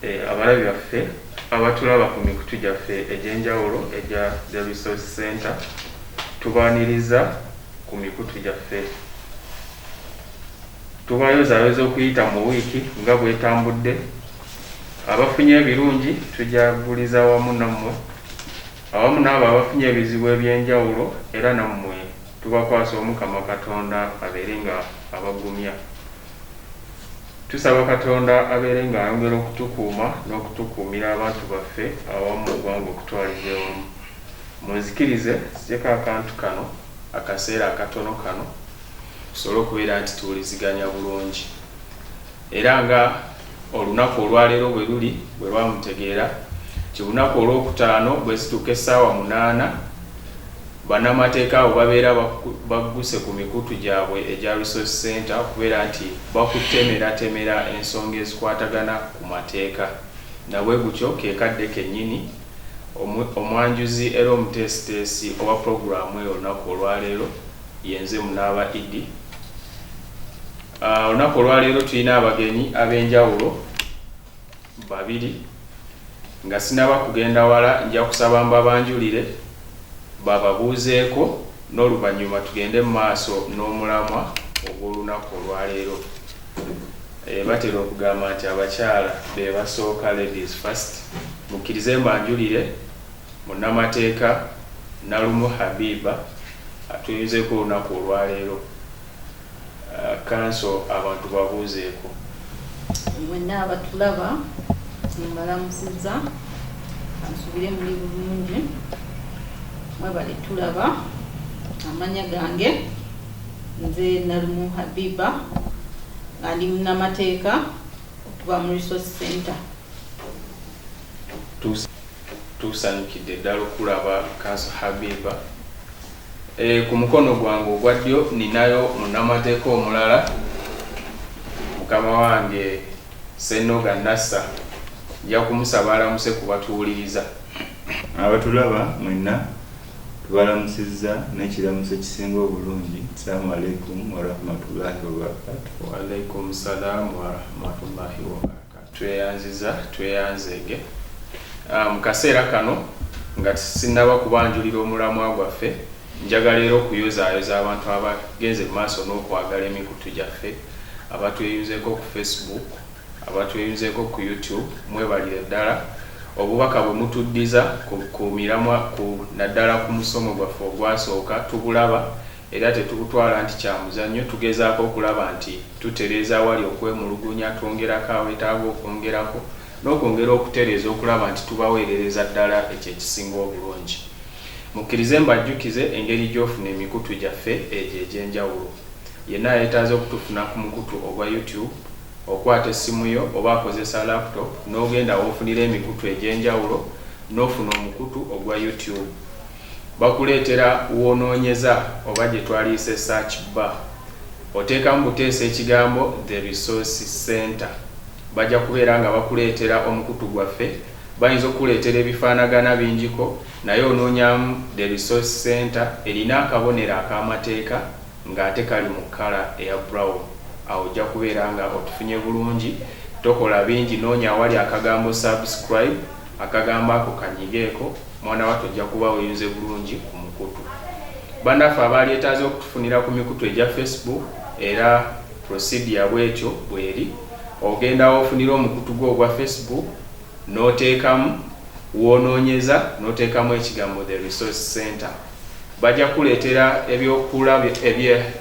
Eh, abalabi baffe abatulaba ku mikutu gyaffe egy'enjawulo egya the resource center tubaaniriza ku mikutu gyaffe Tubayozaayoza okuyita mu wiiki nga bw'etambudde. Abafunye ebirungi tujaguliza wamu nammwe awamu n'abo abafunye ebizibu eby'enjawulo era nammwe tubakwasa Omukama Katonda abeere nga abagumya. Tusaba Katonda abeere nga ayongera okutukuuma n'okutukuumira abantu baffe awamu mu ggwanga okutwaliza ewamu. Munzikirize nzijeko akantu kano akaseera akatono kano. tusobole okubeera nti tuwuliziganya bulungi era nga olunaku olwaleero bwe luli bwe lwamutegeera nti olunaku olwokutaano bwezituuka essaawa munaana bannamateeka abo babeera bagguse ku mikutu gyabwe egya resource center okubeera nti bakutemeratemera ensonga ezikwatagana ku mateeka nabwe gutyo kekadde kennyini omwanjuzi era omuteesiteesi owa pulogulaamu eyo olunaku olwaleero Yenze munaaba Iddi. Olunaku olwaleero tulina abagenyi ab'enjawulo babiri nga sinaba kugenda wala nja kusaba mbabanjulire bababuuzeeko n'oluvannyuma tugende mu maaso n'omulamwa ogw'olunaku olwaleero. Batera okugamba nti abakyala be basooka, ladies first. Mukkirize mbanjulire munnamateeka Nalumu Habiba Tuyunzeeko olunaku olwaleero kanso abantu babuuzeeko. Mwenna abatulaba mbalamusizza kansubire muli bulungi mwebale tulaba amanya gange nze Nalumu Habiba nga ndi munnamateeka okuva mu Resource Center. Tusanyukidde ddala okulaba Kanso Habiba. E, ku mukono gwange ogwa ddyo ninayo munnamateeka omulala mukama wange Senoga Nassa. Nja kumusaba alamuse ku batuwuliriza. Abatulaba mwenna tubalamusizza n'ekiramuso ekisinga obulungi, Salaamu alaikum warahmatullahi wabarakatuh. Wa alaikum salaamu warahmatullahi wabarakatuh. Tweyanziza tweyanzeege mu kaseera kano nga sinnaba kubanjulira omulamwa gwaffe, njagala era okuyozaayoza abantu abagenze mu maaso n'okwagala emikutu gyaffe, abatweyunzeeko ku Facebook, abatweyunzeeko ku YouTube, mwebalire ddala obubaka bwe mutuddiza ku miramwa ku naddala ku musomo gwaffe ogwasooka, tubulaba era tetubutwala nti kya muzannyo, tugezaako okulaba nti tutereeza awali okwemulugunya, twongerako awetaaga okwongerako, n'okwongera okutereeza okulaba nti tubaweerereza ddala ekyo ekisinga obulungi. Mukkirize mbajjukize engeri gy'ofuna emikutu gyaffe egyo egy'enjawulo. Yenna ayetaaze okutufuna ku mukutu ogwa YouTube, okwata essimu yo oba akozesa laptop n'ogenda w'ofunira emikutu egy'enjawulo n'ofuna omukutu ogwa YouTube. Bakuleetera w'onoonyeza oba gye twaliyise search bar, oteekamu buteesi ekigambo The Resource Centre. Bajja kubeera nga bakuleetera omukutu gwaffe. Bayinza okukuleetera ebifaanagana bingiko naye onoonyamu The Resource Centre erina akabonero ak'amateeka ng'ate kali mu kkala eya brown. Awo ojja kubeera nga otufunye bulungi. Tokola bingi, noonya awali akagambo Subscribe. Akagambo ako kanyigeeko mwana wattu ojja kuba oyunze bulungi ku mukutu. Bannaffe abaalyetaaze okutufunira ku mikutu egya Facebook era procedure bwetyo bweri, ogenda w'ofunira omukutu gwo ogwa Facebook n'oteekamu w'onoonyeza n'oteekamu ekigambo The Resource Centre. Bajja kukuleetera eby'okula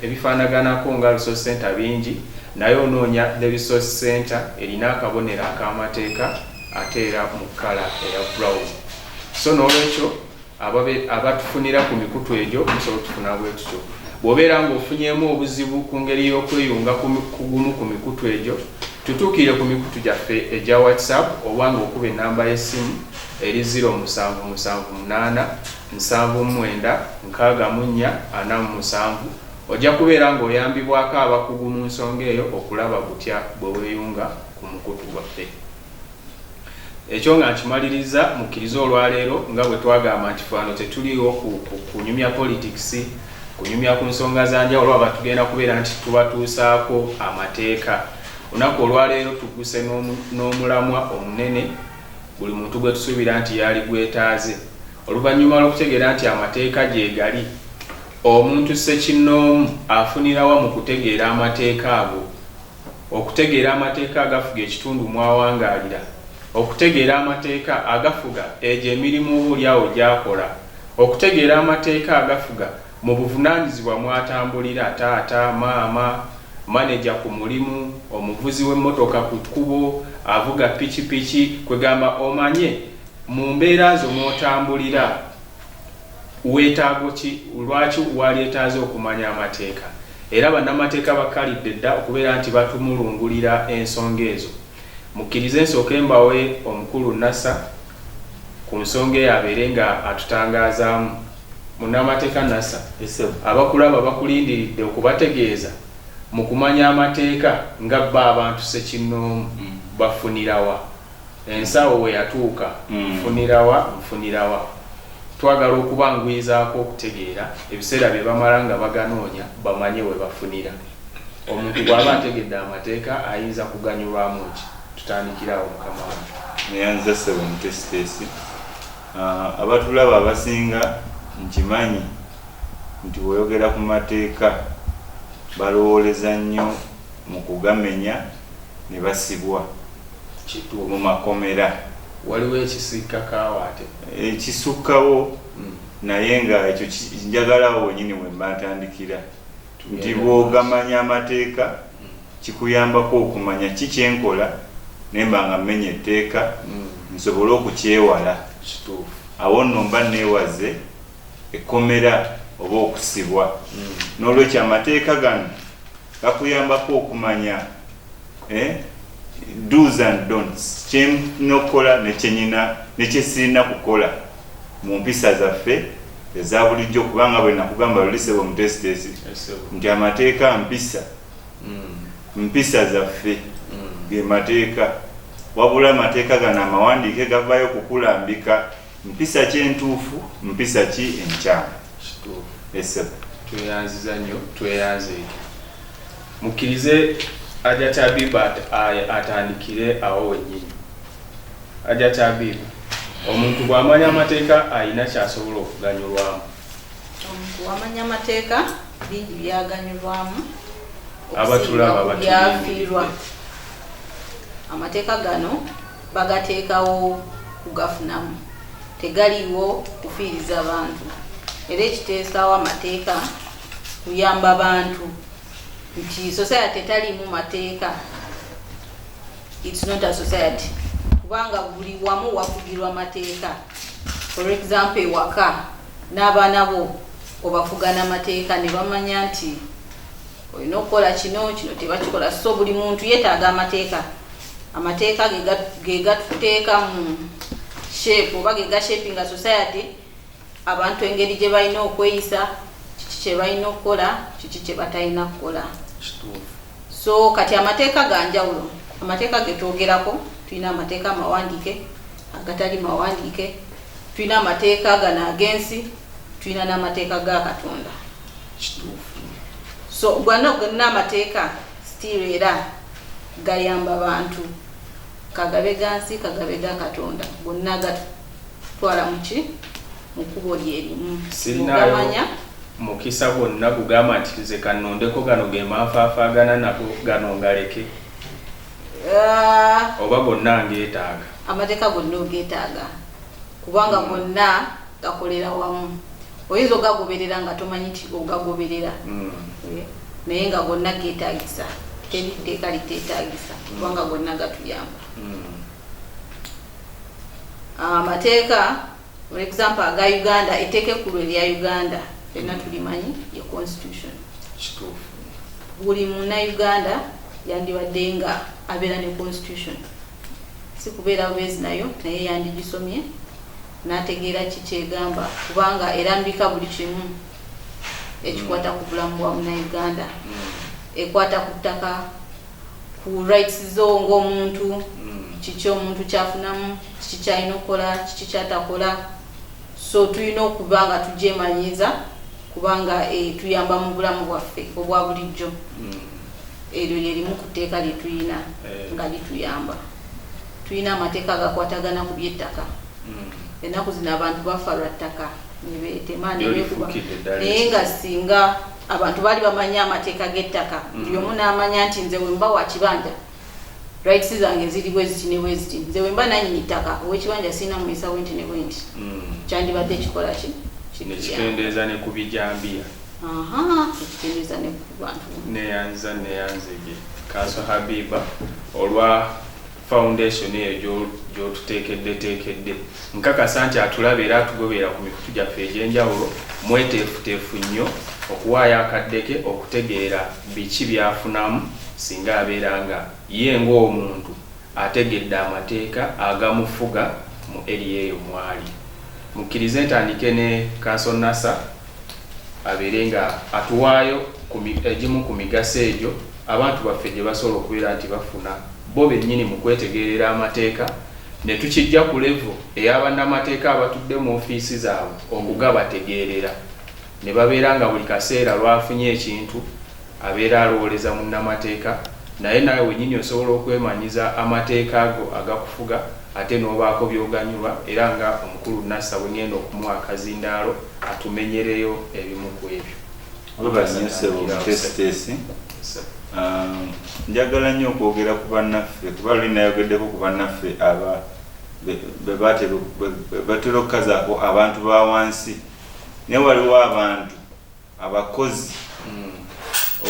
ebifaanaganako nga Resource Centre bingi naye onoonya The Resource Centre erina akabonero ak'amateeka ate era mu kkala eya brown so n'olwekyo abatufunira ku mikutu egyo musobola otufuna bwe tutyo bw'obeera ng'ofunyemu obuzibu ku ngeri y'okweyunga ku gumu ku mikutu egyo tutuukire ku mikutu gyaffe egya whatsapp oba ng'okuba ennamba y'essimu eri 0778796447 ojja kubeera ng'oyambibwako abakugu mu nsonga eyo okulaba kutya bwe weeyunga ku mukutu gwaffe. Ekyo nga nkimalirizza, mukkirize olwaleero nga bwe twagamba nti fano tetuliwo kunyumya politics, kunyumya ku nsonga za njawulo aba tugenda kubeera nti tubatuusaako amateeka. Olunaku olwaleero tugguse n'omulamwa omunene buli muntu gwe tusuubira nti yaali gwetaaze. Oluvannyuma lw'okutegeera nti amateeka gyegali, omuntu ssekinnoomu afunirawa mu kutegeera amateeka ago? Okutegeera amateeka agafuga ekitundu mw'awangaalira. Okutegeera amateeka agafuga egyo emirimu oba olyawo gy'akola. Okutegeera amateeka agafuga mu buvunaanyizibwa mw'atambulira, taata, maama, maneja ku mulimu, omuvuzi w'emmotoka ku kkubo, avuga pikipiki, kwegamba omanye mu mbeera zo mw'otambulira. Weetaago ki? Lwaki walyetaaze okumanya amateeka? Era bannamateeka bakkalidde dda okubeera nti batumulungulira ensonga ezo. Mukkirize nsooke mbawe Omukulu Nasser ku nsonga eyo abeere nga atutangaazaamu. Munnamateeka Nasser, abakulaba bakulindiridde okubategeeza mu kumanya amateeka nga bo abantu ssekinnoomu bafunira wa? Ensawo we yatuuka, Nfunira wa? Nfunira wa? Twagala okubanguyizaako okutegeera ebiseera bye bamala nga baganoonya bamanye we bafunira. Omuntu bw'aba ategedde amateeka ayinza kuganyulwamu ki? Tutandikire awo mukama wange. Neyanza ssebo omuteesiteesi. Abatulaba abasinga nkimanyi nti bw'oyogera ku mateeka balowooleza nnyo. mu kugamenya ne basibwa mu makomera. Waliwo ekisukka kaawo ate? Ekisukkawo hmm. naye nga ekyo njagalawo wenyini wemba ntandikira nti bwogamanya amateeka hmm. kikuyambako okumanya ki kyenkola nemba nga mmenya etteeka hmm. nsobole okukyewala awo nno mba neewaze ekkomera oba okusibwa n'olwekyo amateeka gano Bakuyambako okumanya eh, do's and don'ts, ky'enina okukola ne kyenina ne kye sirina kukola mu mpisa zaffe eza bulijjo, kubanga bwe nakugamba luli sebo mutesitesi nti amateeka mpisa mm. mpisa zaffe mm. ge mateeka wabula amateeka gano amawandiike gavaayo kukulambika Mpisa ki entuufu, mpisa ki enkyamu? Esebo. Tweyanziza nnyo, tweyanze. Mukkirize Ajat Habib atandikire awo wennyini. Ajat Habib, omuntu bw'amanya amateeka alina ky'asobola okuganyulwamu. Omuntu bw'amanya amateeka bingi byaganyulwamu abatulaba byafiirwa. Amateeka gano bagateekawo kugafunamu tegaliiwo kufiiriza bantu era ekiteesaawo amateeka kuyamba bantu nti society etaliimu mateeka its not a society kubanga buli wamu wafugirwa mateeka for example ewaka n'abaana bo obafuga n'amateeka ne bamanya nti olina okukola kino kino tebakikola so buli muntu yetaaga amateeka amateeka gegatuteeka mu shape oba gegashapinga society abantu engeri gye balina okweyisa kiki kye balina okukola kiki kye batalina kukola so kati amateeka ga njawulo amateeka getwogerako tulina amateeka amawandiike agatali mawandiike tulina amateeka gano agensi tulina n'amateeka ga katonda so gwana ogana amateeka still era gayamba bantu kagabe gansi kagabe ga katonda gonna gatwala muki mukubo lyerimu ogamanya mukisa gwonna gugamba nti nze kanondeko gano gemanfaafagana nago gano ngaleke ah. oba gonna ngetaaga amateeka gonna ogetaaga kubanga gonna gakolera wamu oyinza ogagoberera nga tomanyi nti ogagoberera mm. eh, naye nga gonna getagisa teri tteeka litetagisa mm. kubanga gonna gatuyamba mm. ah, amateeka for example aga uganda etteeka ekkulu erya uganda fenna tulimanyi ye constitution buli muna uganda yandibadde nga abeera ne constitution si kubeera bubeezi nayo naye yandigisomye n'ategeera ki ky'egamba kubanga erambika buli kimu ekikwata ku bulamu bwa munauganda ekwata ku ttaka ku rights zo ng'omuntu kiki omuntu kyafunamu kiki kyalina okukola kiki kyatakola so tulina okuba nga tugyemanyiiza kubanga eh, tuyamba mu bulamu bwaffe obwa bulijjo Eryo lye limu ku tteeka lye tulina nga lituyamba. Tulina amateeka agakwatagana ku by'ettaka. Ennaku zino abantu bafa lwa ttaka ne beetema ne beekuba, naye nga singa abantu baali bamanyi amateeka g'ettaka, buli omu n'amanya nti nze we mba wa kibanja rights zange ziri bwe ziti ne bwe ziti, nze we mba nannyini ttaka ow'ekibanja sirina muyisa bwe nti ne bwe nti, kyandibadde kikola ki? Kikendeeza ne ku bijambiya. Ahaa, ekikendeeza ne ku. neyanziza neyanzege kanso habiba olwa foundation eyo gyotutekeddetekedde nkakasa nti atulaba era atugobeera ku mikutu gyaffe egyenjawulo mweteefuteefu nnyo okuwaayo akaddeke okutegeera biki byafunamu singa abeera nga ye ngaomuntu ategedde amateeka agamufuga mu eriya eyo mwali mukkirize ntandike ne kanso nasa abeere nga atuwaayo ku mi, egimu ku migaso egyo abantu baffe gye basobola okubeera nti bafuna bo bennyini mu kwetegeerera amateeka ne tukiggya ku levo eya bannamateeka abatudde mu ofiisi zaabwe okugabategeerera ne babeera nga buli kaseera lw'afunye ekintu Abeera alowooleza munnamateeka, naye naawe wennyini osobola okwemanyiza amateeka ago agakufuga ate n'obaako by'oganyulwa era nga omukulu Nasser bwe ng'enda okumuwa akazindaalo atumenyereyo ebimu ku ebyo. Weebale nnyo ssebo omuteesiteesi. Njagala nnyo okwogera ku bannaffe kuba luli nayogeddeko ku bannaffe aba be batera okukazaako abantu ba wansi naye waliwo abantu. abakozi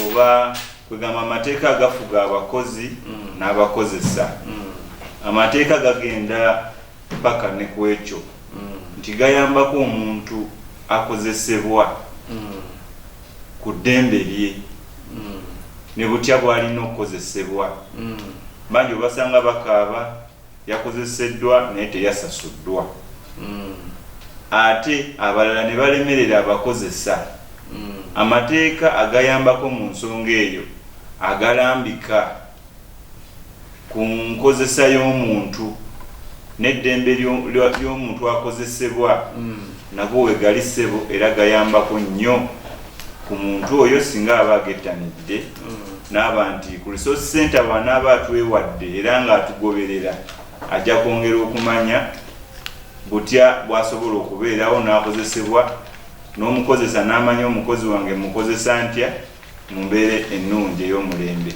oba kwegamba amateeka agafuga abakozi n'abakozesa amateeka gagenda paka ne ku ekyo nti gayambako omuntu akozesebwa ku ddembe lye ne butya bw'alina okukozesebwa bangi obasanga bakaaba yakozeseddwa naye teyasasuddwa ate abalala ne balemerera abakozesa Amateeka agayambako mu nsonga eyo agalambika ku nkozesa y'omuntu n'eddembe ly'omuntu akozesebwa nago wegali ssebo era gayambako nnyo ku muntu oyo singa aba agettanidde. n'aba nti ku resource center bw'anaaba atwewadde era ng'atugoberera ajja kwongera okumanya butya bw'asobola okubeerawo n'akozesebwa n'omukozesa n'amanya omukozi wange mukozesa ntya mu mbeera ennungi ey'omulembe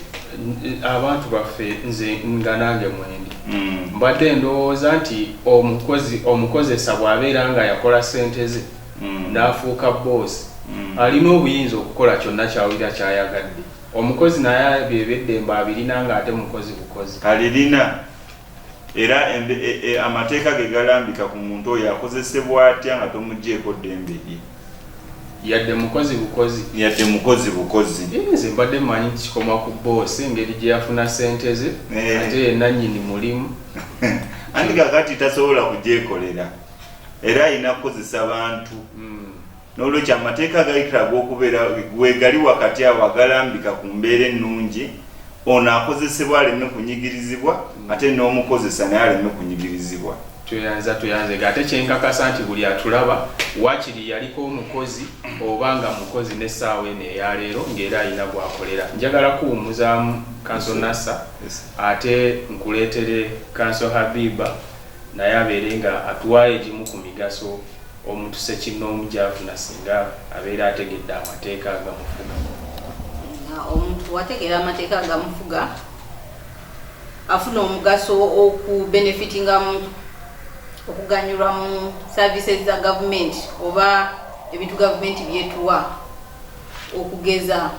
abantu baffe nze nga nange mwendi hmm. mbadde ndowooza nti omukozi omukozesa bw'abeera nga yakola ssente ze mm. n'afuuka boosi mm. alina obuyinza okukola kyonna kyawulira kyayagadde omukozi naye byebeddembe abirina ng'ate mukozi bukozi alirina era e, e, amateeka ge galambika ku muntu oyo akozesebwa atya nga tomugjeeko ddembe lye yadde mukozi bukozi yadde mukozi bukozi nze mbadde manyi kikoma ku boosi engeri gye yafuna sente ze eh. ate yenanyini mulimu anti kakati tasobola kugyekolera era alina kukozesa bantu hmm. n'olwekyo amateeka agayitira ag'okubeera wegali wakati awo agalambika ku mbeera ennungi ono akozesebwa aleme kunyigirizibwa hmm. ate n'omukozesa naye aleme kunyigirizibwa tweyanza tweyanze nga ate kyenkakasa nti buli atulaba wakiri yaliko omukozi oba nga mukozi n'essaawa eno eyaleero ng'era alina gwakolera njagala kuwumuzaamu kanso nasa ate nkuleetere kanso habiba naye abeere nga atuwaayo egimu ku migaso omuntu ssekinnoomu gy'afuna singa abeera ategedde amateeka agamufuga. Nga omuntu wategeera amateeka agamufuga afuna omugaso oku benefitinga mu okuganyulwa mu services za gavumenti oba ebintu gavumenti byetuwa okugeza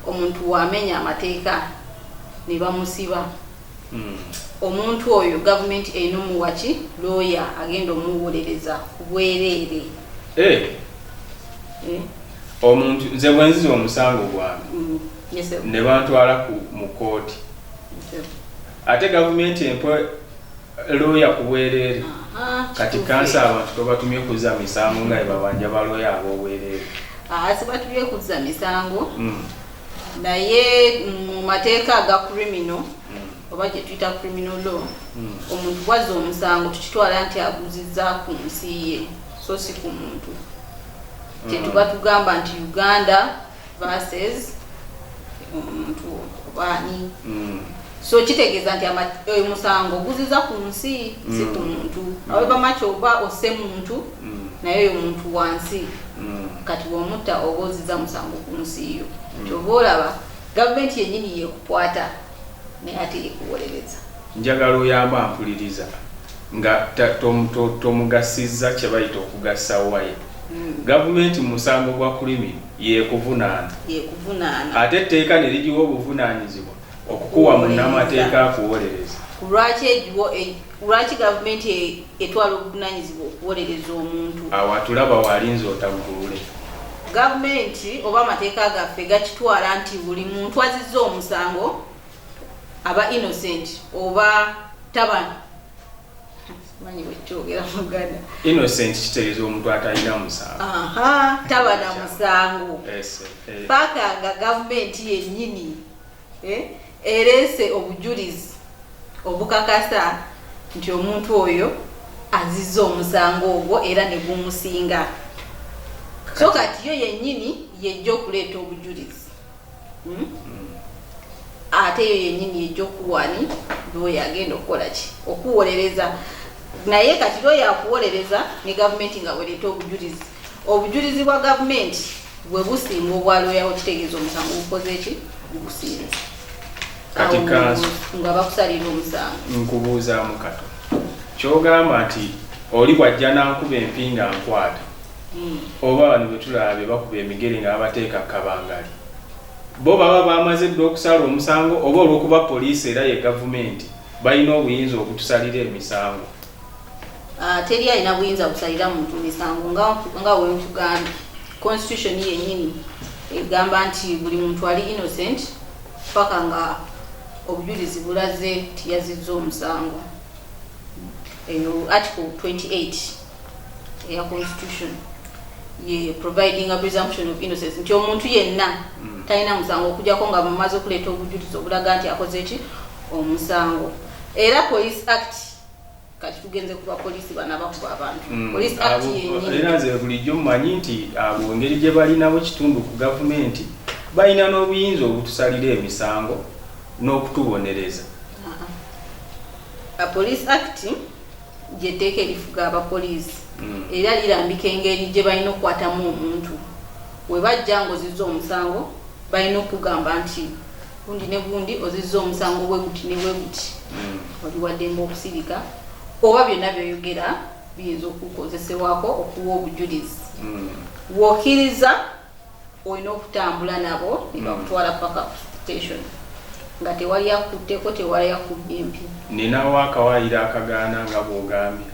omuntu wamenya amateeka ne bamusiba omuntu oyo gavumenti erina omuwa ki looya agenda omuwolereza ku bwereere Eh, Eh, omuntu nze bwenziza omusango gwange mm, yes, sir. ne bantwala ku- mu kooti Yes, ate gavumenti empa looya ku bwereere sir. Aha, kati kituufu. kansa abantu kwebatumye okuza misango nga ebabanja balooya ab'obwereere Ah, sibatubye kuzza misango Mm. naye mu mateeka aga kurimino hmm. oba gyetuyita kurimino law hmm. omuntu bwazza omusango tukitwala nti aguziza ku nsi ye so si ku muntu hmm. kyetuba tugamba nti uganda verses omuntu obaani so kitegeeza nti oyo eh, musango guziza ku nsi si ku mm. muntu mm. awebamaki oba osse muntu mm. naye oyo muntu wansi kati womutta oba oziza musango ku nsi yo kyoba olaba gavumenti yenyini yekukwata naye ate yekuwolereza njagala oyamba ampuliriza nga tomugasizza kyebayita okugasa waye gavumenti musango gwa kulimi yekuvunaana ate etteeka nerigiwa obuvunanyizibwa Okukuwa munnamateeka akuwolereza. Ku lwaki egiwo e, lwaki gavumenti e, etwala obuvunaanyizibwa okuwolereza omuntu? Awo atulaba waalinze otaggulule. Gavumenti oba amateeka gaffe gakitwala nti buli muntu azizza omusango aba innocent oba tabana manyi bwekyogera muganda innocent kitegeeza omuntu atalina musango taba na musango paka nga gavumenti yennyini eh, ereese obujulizi obukakasa nti omuntu oyo azizza omusango ogwo era ne gumusinga so kati yo yennyini yejja okuleeta obujulizi hmm? Hmm. ate yo yennyini yejja okuwani lwoyo agenda okukola ki okuwolereza naye kati lwoyo akuwolereza ne gavumenti nga wereeta obujulizi Obujulizi bwa gavumenti bwe businga obwa looya wo kitegeeza omusango gukoze ki gugusinze kati kanso nga bakusalira omusango nkubuuzaamu kato kyogamba nti oli bwajja nankuba empi nga nkwata hmm. oba bano betulaba be bakuba emigere nga babateeka kabangali bo baba bamaze dda okusala omusango oba olwokuba poliisi era ye gavumenti balina obuyinza okutusalira emisango Ah, teri alina buyinza busalira muntu misango nga wenkugambye constitution yenyini egamba nti buli muntu ali innocent paka nga obujulizi bulaze nti yazizza omusango eyo article 28 eya constitution ye providing a presumption of innocence nti omuntu yenna mm. talina musango okujako nga mumaze okuleeta obujulizi obulaga nti akoze ki omusango era police act kati tugenze kuba polisi bana bakuba abantu mm. polisi ati yenyi era nze bulijjo mmanyi nti abo ngeri gye balinawo ekitundu ku gavumenti balina n'obuyinza obutusalira emisango n'okutubonereza police act gyeteeka erifuga abapoliisi mm. era lirambika engeri gye balina okukwatamu omuntu webajja ngoziza omusango balina okugamba nti gundi ne gundi ozizza omusango bwe guti ne bwe guti obiwaddemu okusirika oba byonna byoyogera biyinza okukozesebwako okuwa obujulizi hmm. wokkiriza olina okutambula nabo ne bakutwala hmm. paka station nga tewali akutteko tewali akubbye empi ninawo akawayiro akagaana nga bwogambye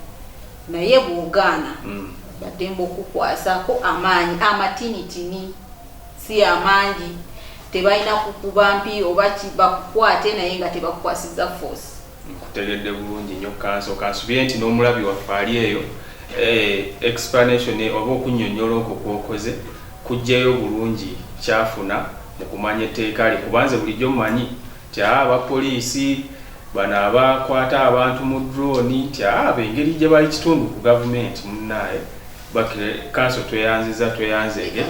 naye bwogaana hmm. baddemba okukwasako amaanyi amatinitini si amangi tebalina kukuba mpi oba bakukwate naye nga tebakukwasiza force nkutegedde bulungi nyo kanso kansubire nti n'omulabi waffe ali eyo eh, explanation oba okunyonyola okwo kwokoze kujjayo bulungi kyafuna mu kumanya etteeka lye kubanze bulijjo manyi ti ah, aba poliisi bano abakwata abantu mu drone ti ah, bengeri gye bali kitundu ku gavumenti munaye bakire kanso tweyanziza tweyanzege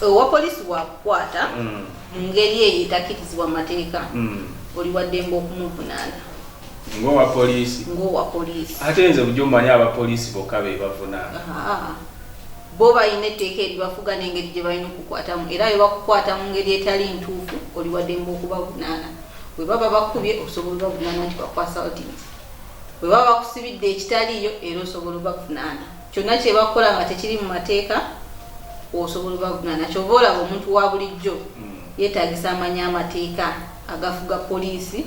owa polisi wakukwata mm. mu ngeri eyo etakirizibwa mu mateeka mm. oli waddembe okumuvunaana ngowa polisi ngowa polisi ate nze bujo manyi aba polisi boka be bavuna bo bayina etteeka eribafuga n'engeri gye balina okukwatamu era bwe bakukwata mu ngeri etali ntuufu oli waddembe okubavunaana bwe baba bakubye osobola bavunaana nti bakwasa otinisi Bwe baba bakusibidde ekitaliiyo era osobola obavunaana. Kyonna kye bakukola nga tekiri mu mateeka osobola obavunaana. Ky'ova olaba omuntu wa bulijjo yeetaagisa amanye amateeka agafuga poliisi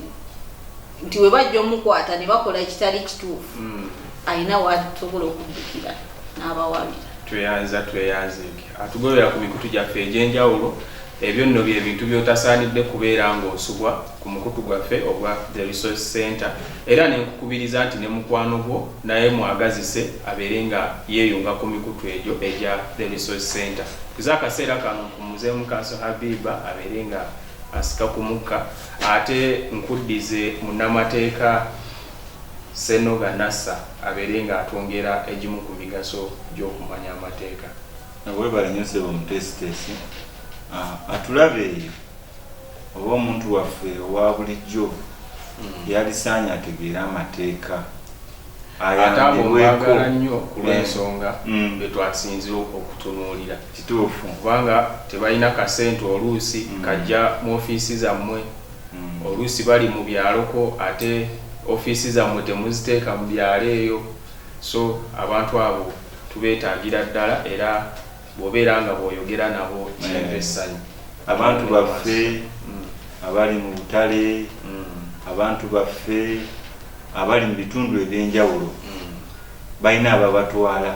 nti bwe bajja omukwata ne bakola ekitali kituufu alina w'asobola okuddukira n'abawabira. Tweyanza tweyanzege atugobera ku mikutu gyaffe egy'enjawulo Ebyo nno bye bintu by'otasaanidde kubeera ng'osubwa ku mukutu gwaffe ogwa The Resource Centre era ne nkukubiriza nti ne mukwano gwo naye mwagazise abeere nga yeeyunga ku mikutu egyo egya The Resource Centre. Nze akaseera kano mpummuzeemu Kanso Habiba abeere nga asika ku mukka ate nkuddize munnamateeka Ssenoga Nasser abeere ng'atwongera egimu ku migaso gy'okumanya amateeka. Webale nnyo ssebo omuteesiteesi. Ah, atulabe eyo oba omuntu waffe owa bulijjo hmm. yalisaanye ategeere amateeka ayambibweko nnyo kulwensonga eh. hmm. betwasinze okutunuulira kituufu kubanga tebalina kasente oluusi hmm. kajja mu ofiisi zammwe oluusi bali mu byaloko ate ofiisi zammwe temuziteeka mu byalo eyo so abantu abo Tubeetagira ddala era bw'obeera nga bw'oyogera nabo kireeta essanyu. Abantu baffe abali mu butale, abantu baffe abali mu bitundu eby'enjawulo balina ababatwala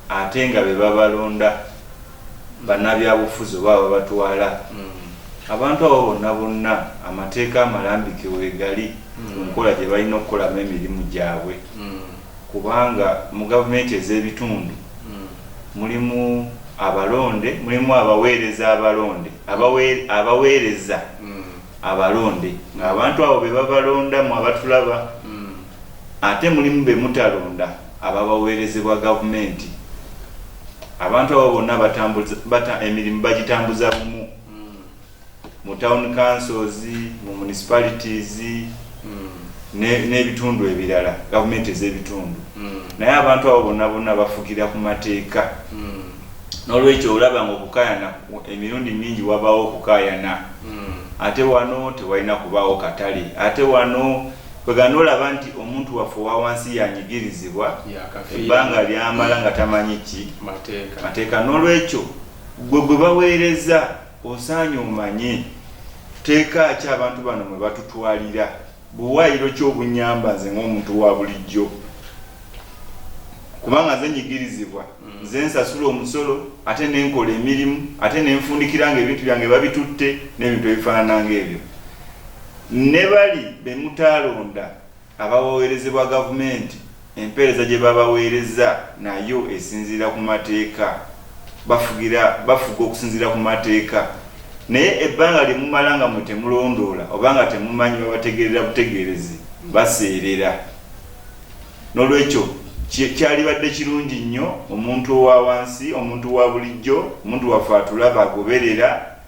ate nga be babalonda, bannabyabufuzi oba ababatwala. Abantu abo bonna bonna amateeka amalambike weegali ku nkola gye balina okukolamu emirimu gyabwe. kubanga mu gavumenti ez'ebitundu mulimu abalonde, mulimu abaweereza abalonde, abaweereza abalonde ng'abantu abo be babalonda mmwe abatulaba ate mulimu be mutalonda ababaweerezebwa gavumenti. Abantu abo bonna emirimu bagitambuza bumu. mu town councils mu municipalities n'ebitundu ebirala gavumenti ez'ebitundu naye abantu abo bonna bonna bafugira ku mateeka n'olwekyo olaba nga okukayana emirundi mingi wabaawo okukayana ate wano tewalina kubaawo katale ate wano kwegana olaba nti omuntu waffe owa wansi yanyigirizibwa Yakafiirwa. ebbanga lyamala nga tamanyi ki Mateeka. mateeka n'olwekyo gwe gwe baweereza Osaanye omanye tteeka ki abantu bano mwe batutwalira. Buwaayiro ki obunnyamba nze ng'omuntu wa bulijjo? Kubanga nze nnyigirizibwa, nze nsasula omusolo ate ne nkola emirimu ate ne nfundikira ng'ebintu byange babitutte n'ebintu ebifaanana ng'ebyo. Ne bali be mutaalonda Abawawerezebwa gavumenti empeereza gye babaweereza nayo esinziira ku mateeka. Bafugira, bafuga okusinziira ku mateeka. Naye ebbanga lye mumala nga mwe temulondoola oba nga temumanyi babategeerera butegeerezi, baseerera. N'olwekyo, ki, kyalibadde kirungi nnyo omuntu owa wansi, omuntu wa bulijjo, omuntu waffe atulaba, agoberera,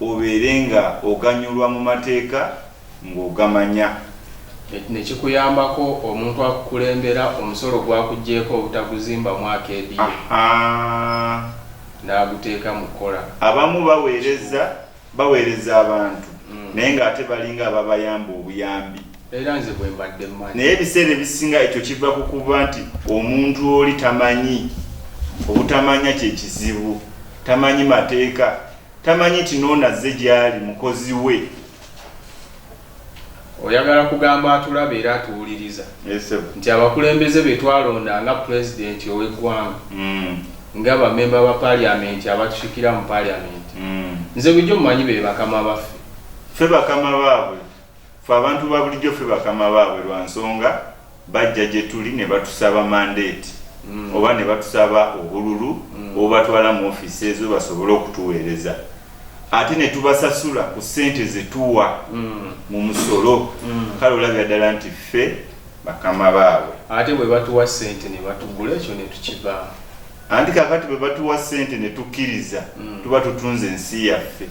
obeere nga oganyulwa mu mateeka ng'ogamanya. Ne kikuyambako omuntu akukulembera omusolo gw'akuggyeeko obutaguzimba mwaka ediyo n'aguteeka mu kkola. Abamu baweereza baweereza abantu naye ng'ate balinga ababayamba obuyambi. era nze bwe mbadde mmanyi naye ebiseera ebisinga ekyo kiva ku kuba nti omuntu oli tamanyi obutamanya kye kizibu tamanyi mateeka tamanyi nti noonazze gy'ali mukozi we oyagala kugamba atulaba era atuwuliriza nti abakulembeze be twalonda nga pulezidenti ow'eggwanga mm. nga bamemba ba paliamenti abatusikira mu paliamenti mm. nze bulijjo mumanyi be bakama baffe ffe bakama baabwe Ffe abantu ba bulijjo ffe bakama baabwe lwa nsonga bajja gye tuli ne batusaba mandeeti oba ne batusaba obululu obubatwala mu ofiisi ezo basobole okutuweereza ate ne tubasasula ku ssente ze tuwa mu musolo kale olabira ddala nti ffe bakama baabwe. Ate bwe batuwa ssente ne batugula ekyo ne tukivaamu. anti kakati bwe batuwa ssente ne tukkiriza mm. tuba tutunze ensi yaffe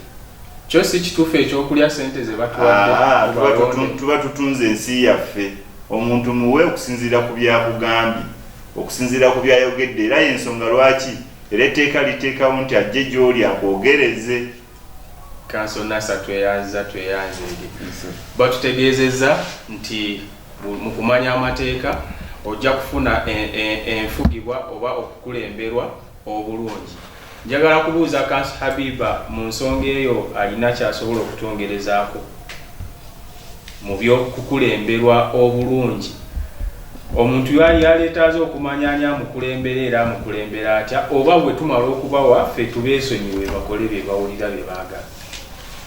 kyo si kituufu ekyokulya ssente ze batuwaddetuba ah, tutunze ensi yaffe omuntu muwe okusinziira ku byakugambye okusinziira ku byayogedde era yensonga lwaki era etteeka liteekawo nti ajje gyoli akwogereze kanso nasa tweyanziza tweyanze eri batutegeezezza nti Mu kumanya amateeka, ojja kufuna enfugibwa oba okukulemberwa obulungi. Njagala kubuuza Khans Habiba mu nsonga eyo alina ky'asobola okutwongerezaako mu by'okukulemberwa obulungi? Omuntu yaleetaaze okumanya ani amukulembera era amukulembera atya oba bwe tumala okubawa ffe tubeesonyiwe bakole bye bawulira bye baagala.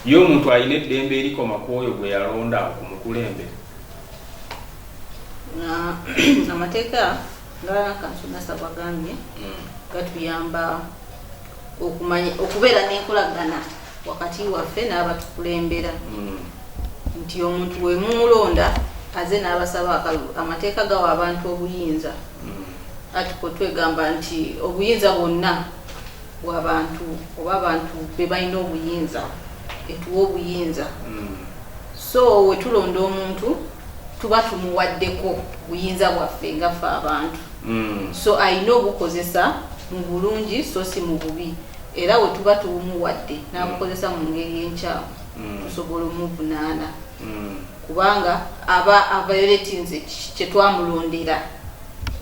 Ye omuntu alina eddembe erikoma ku oyo gwe yalonda okumukulembera? amateeka ngakansunasa bwagambye mm. gatuyamba okumanya okubeera n'enkolagana wakati waffe n'abatukulembera mm. nti omuntu wemumulonda aze n'abasaba akalulu amateeka gawa abantu obuyinza mm. atiko twegamba nti obuyinza bwonna bwabantu oba abantu bebalina obuyinza etuwa obuyinza mm. So wetulonda omuntu tuba tumuwaddeko buyinza bwaffe nga ffe abantu mm. so alina obukozesa mu bulungi so si mu bubi era we tuba tuwumuwadde n'abukozesa mu ngeri enkyamu mm. tusobola omuvunaana mm. kubanga aba avayoletinze kyetwamulondera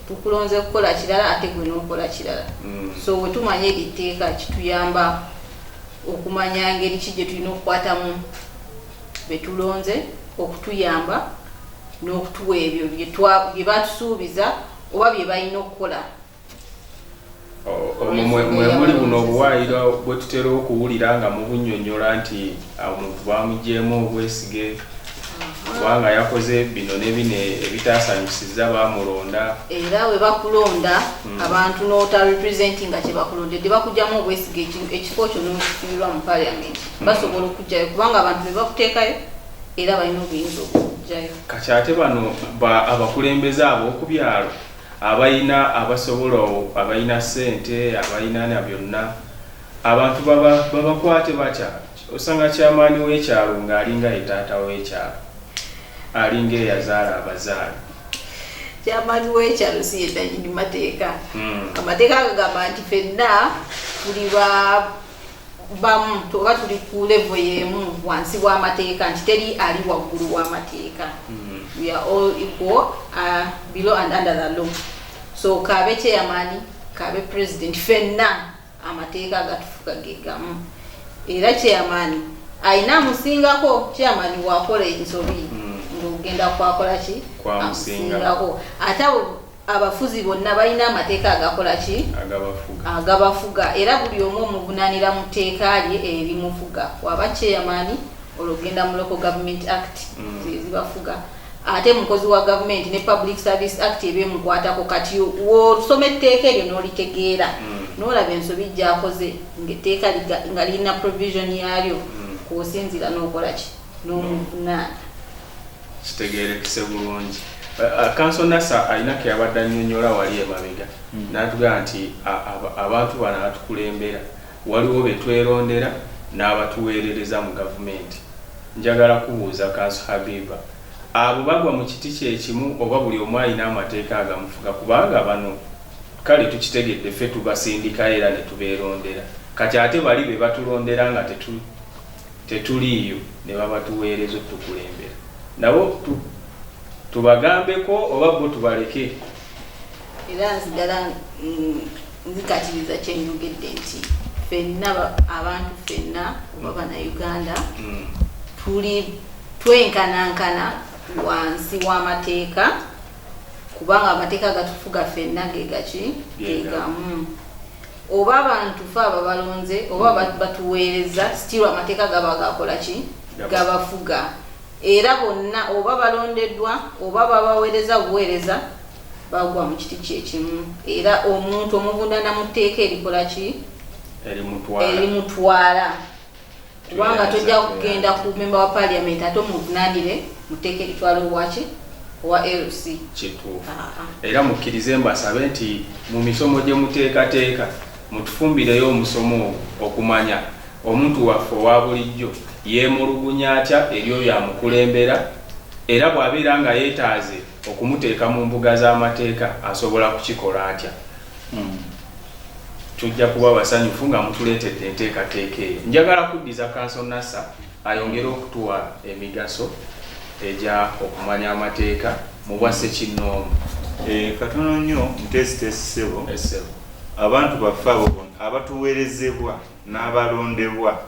tukulonze kukola kirala ate gwe n'okola kirala mm. so we tumanya eri tteeka kituyamba okumanya ngeri ki gye tulina okukwatamu be tulonze okutuyamba n'okutuwa ebyo bye batusuubiza oba bye balina okukola mwemuli buno obuwaayiro bwe tutera okuwulira nga mubunyonyola nti ah, omuntu bamugyemu obwesige kubanga yakoze bino nebino ebitaasanyusiza bamulonda era we bakulonda hmm. abantu n'otarepresentinga kyebakulondedde bakugyamu obwesige ekifo kyo nokifiirwa mu paliamenti basobola okujjayo kubanga abantu bebakuteekayo era balina obuyinza okujjayo kati ate bano abakulembeze abo okubyalo abalina abasobola abalina sente abalina na byonna abantu babakwate batya osanga kyamaani w'ekyalo ng'alinga ye taata w'ekyalo alinga eyazaala abazaala kyamaani w'ekyalo si yedanyini mateeka hmm. amateeka agagamba nti fenna tuli ba bamu oba tuli ku levo yemu wansi w'amateeka nti teri ali waggulu w'amateeka mm. we are all equal uh, below and under the law so kaabe chairman kaabe president fenna amateeka agatufuga gegamu era chairman ayina amusingako chairman wakola ensobi mm. ng'ogenda kwakola ki amusingako ate abo abafuzi bonna balina amateeka agakola ki agabafuga era buli omu omuvunanira mu tteeka lye erimufuga waba chairman olwogenda mu local government act mm. zezibafuga mm. ate mukozi wa gavumenti ne public service act ebyemukwatako kati wosoma etteeka eryo n'olitegeera mm. n'olaba ensobi gyakoze ngaetteeka nga lirina provision yaalyo mm. kwosinzira n'okola ki n'omuvunaana kitegeerekese bulungi kanso nasa alina keyabadde annyonnyola wali emabega hmm. natugamba nti abantu bano abatukulembera waliwo betwerondera n'abatuweerereza mu gavumenti njagala kubuuza kanso habiba abo bagwa mu kiti kyekimu oba buli omu alina amateeka agamufuga kubanga bano kale tukitegedde ffe tubasindikayo era netubeerondera kati ate bali be batulondera nga tetu tetuliiyo ne babatuweereza otukulembera nabo tu, tubagambeko oba bo tubaleke? Era nzigala mm, nzikatiriza kye njogedde nti fenna abantu fenna oba bannayuganda mm. tuli twenkanankana wansi w'amateeka kubanga amateeka gatufuga fenna gegaki gegamu oba abantu fe ababalonze oba mm. batuweereza stiru amateeka gaba gakola ki gabafuga era bonna oba balondeddwa oba babaweereza buweereza bagwa mu kiti kyekimu era omuntu omuvundana mu tteeka erikola ki erimutwala kubanga tojja kugenda ku memba wa parliament ate omuvunanire muteeka ekitwala owaki owa lc kituufu ah, ah. era mukkirize mbasabe nti mu misomo gye muteekateeka mutufumbireyo omusomo okumanya omuntu waffe owa bulijjo yeemulugunya atya eri oyo amukulembera era bw'abeera nga yeetaaze okumuteeka mu mbuga z'amateeka asobola kukikola atya Hmm. Tujja kuba basanyufu nga mutuleetedde enteekateeka eyo. Njagala kuddiza kanso Nasa ayongere okutuwa emigaso egya okumanya amateeka mu bwa ssekinnoomu. Eh, katono nnyo muteesiteesi ssebo. Eh, ssebo. Abantu baffe abo abatuweerezebwa n'abalondebwa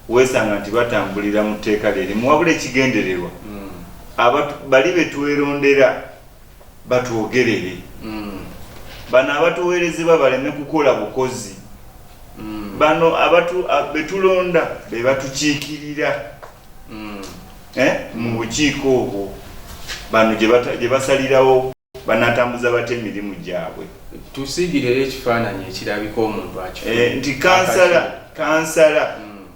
weesanga nti batambulira mu tteeka lye limu wabula ekigendererwa hmm. bali be twelondera batwogerere bano abatuwerezebwa baleme kukola bukozi bano abatu betulonda bebatukiikirira eh, mu bukiiko obwo bano gye basalirawo banatambuza batya emirimu gyabwe tusigirero ekifaananyi ekirabika omuntu akifuna eh, nti kansala kansala mm.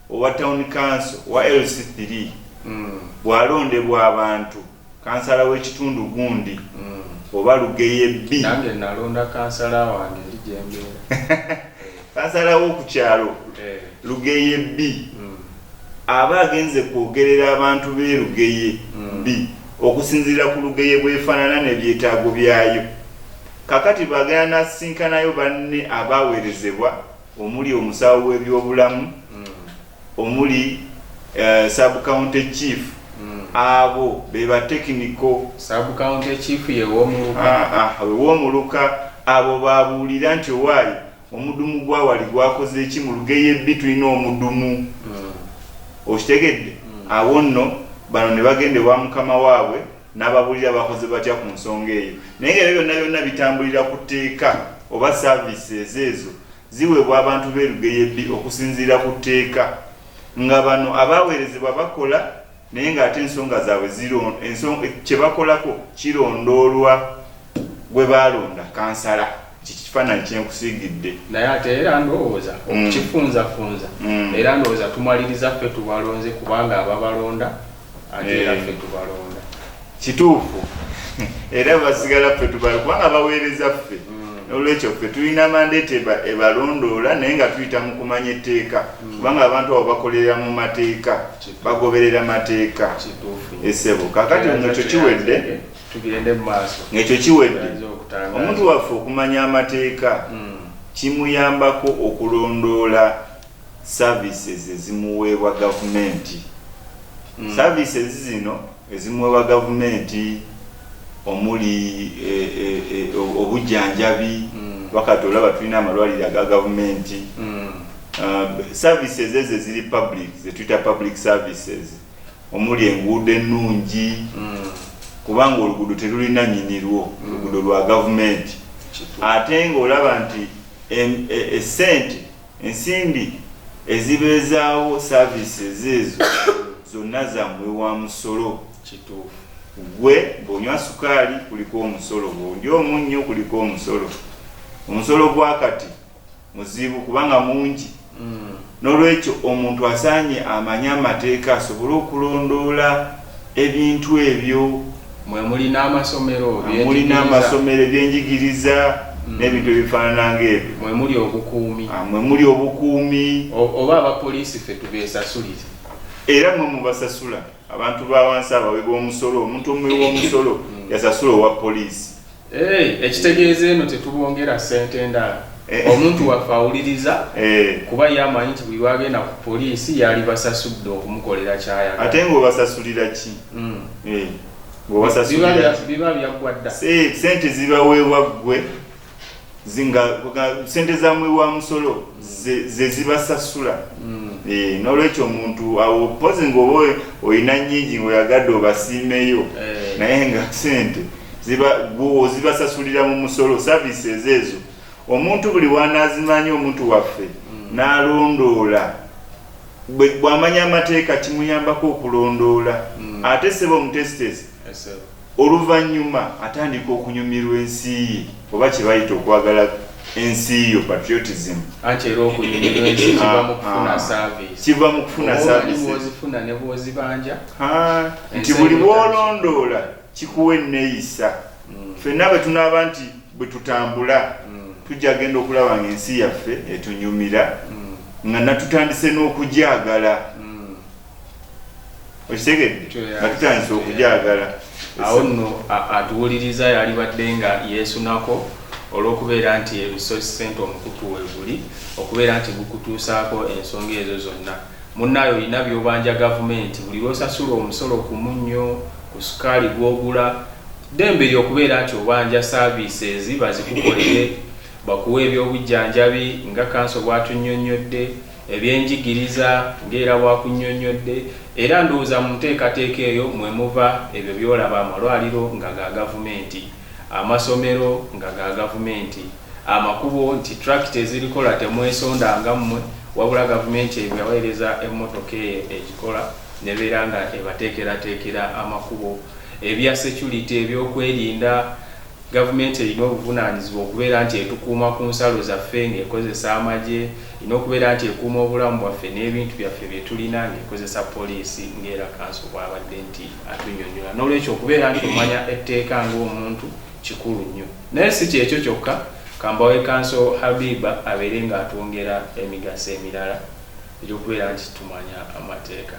owa town council wa LC3 mm. bwalondebwa abantu kansala w'ekitundu gundi mm. oba lugeye bbi nange nalonda kansala wange ndi gyembeera kansala w'oku kyalo eh. lugeye bbi mm. aba agenze kwogerera abantu be lugeye mm. bbi okusinziira ku lugeye bwefaanana n'ebyetaago byayo kakati bagenda nasinkanayo banne abaweerezebwa omuli omusawo w'ebyobulamu, omuli eh, sub county chief, hmm. abo beba tekiniko sub county chief yewomuluka ah, ah, wewomuluka abo babuulira nti owaayi omudumu gwawali gwakoze eki mu lugeyo ebbi tulina omudumu hmm. okitegedde hmm. awo nno bano ne bagenda ewa mukama waabwe N'ababuulira bakoze batya ku nsonga eyo. Naye nga ebyo byonna byonna bitambulira ku tteeka oba services ezo ziweebwa abantu b'e Lugeyebbi okusinziira ku tteeka nga bano abaaweerezebwa bakola naye ng'ate ensonga zaabwe ziro enso kye bakolako kirondoolwa gwe baalonda kansala kikifaananyi kyenkusiigidde naye ate era ndowooza okukifunzafunza era ndowooza tumaliriza ffe tubalonze kubanga ababalonda kituufu era basigala ffe tubala kubanga baweereza ffe mm. olwekyo ffe tulina mandeeti ebalondoola naye nga tuyita mu kumanya etteeka mm. kubanga abantu abo bakolera mu mateeka bagoberera mateeka esebo kakati ngekyo kiwedde ngekyo kiwedde omuntu waffe okumanya amateeka mm. kimuyambako okulondoola services ezimuweebwa gavumenti mm. services zino ezimuweebwa gavumenti omuli e, e, e, obujjanjabi mm. wakati olaba tulina amalwaliro aga gavumenti mm. uh, services ezo eziri public zetuyita public services omuli enguudo ennungi mm. kubanga oluguudo terulina nyinirwo mm. oluguudo lwa gavumenti ate ngaolaba nti esente e, e, Ensimbi ezibeezaawo services ezo zonna za muwi wa musolo. Kituufu. Ggwe bw'onywa sukaali kuliko omusolo, bw'olya omunnyo kuliko omusolo. Omusolo gwa kati muzibu kubanga mungi. Noolwekyo omuntu asaanye amanye amateeka asobole okulondoola ebintu ebyo mwemuli n'amasomero ebyenjigiriza mm. n'ebintu ebifaanana ngaebyo mwemuli obukuumi ah, mwemuli obukuumi oba abapoliisi fe tubesasulire era mwe mubasasula abantu bawansi abawe b'omusolo omuntu omuwe w'omusolo mm. yasasula owa poliisi Eh, ekitegeeza eno tetubongera sente ndala eh. omuntu waffe awuliriza eh. kuba ye amanyi nti buli lwagenda ku poliisi yali basasudde okumukolera kyayagala ate ngaobasasulira ki hmm. biba byaggwa dda sente zibaweebwa ggwe zinga sente za mwe wa musolo ze zibasasula mm. eh nolwecho omuntu awo pose ngobo oyina nyingi ngo yagado basimeyo eh. naye nga sente ziba gwo zibasasulira mu musolo services ezo omuntu buli wanazimanyi omuntu waffe mm. nalondola bwamanya amateeka kimuyambako okulondoola mm. ate sebo omutesitesi Oluvannyuma atandika okunyumirwa ensi ye oba kye bayita okwagala ensi yo, patriotism. Anti era okunyumirwa ensi kiva mu kufuna service. Kiva mu kufuna services. Bw'oba omanyi bw'ozifuna ne bw'ozibanja. Haa, nti buli bw'olondoola kikuwa enneeyisa. Ffenna bwe tunaaba nti bwe tutambula tujja kugenda okulaba ng'ensi yaffe etunyumira nga natutandise n'okugyagala. okitegedde nga tutandise okugyagala awo nno atuwuliriza yalibadde nga yeesunako olw'okubeera nti ebisosi ssente omukutu weguli okubeera nti gukutuusaako ensonga ezo zonna munnaayo olina byobanja gavumenti buli lwosasula omusolo ku munnyo ku sukaali gwogula ddembe eri okubeera nti obanja saaviisi ezi bazikukolere bakuwa ebyobujjanjabi nga kanso bw'atunnyonnyodde Ebyenjigiriza, ng'era bwakunnyonnyodde, era ndowooza mu nteekateeka eyo mwe muva ebyo by'olaba, amalwaliro nga ga gavumenti, amasomero nga ga gavumenti, amakubo nti tractor ezirikola temwesondanga mmwe wabula gavumenti ebaweereza emmotoka eyo egikola n'ebeera nga ebateekerateekera amakubo, ebya security, ebyokwerinda, Gavumenti erina obuvunaanyizibwa okubeera nti etukuuma ku nsalo zaffe ng'ekozesa amagye, erina okubeera nti ekuuma obulamu bwaffe n'ebintu byaffe bye tulina ng'ekozesa poliisi, ng'era kanso bw'abadde nti atunnyonnyola. Noolwekyo okubeera nti omanya etteeka ng'omuntu kikulu nnyo. Naye si ky'ekyo kyokka, ka mbawe kanso Habiba abeere ng'atwongera emigaso emirala egy'okubeera nti tumanya amateeka.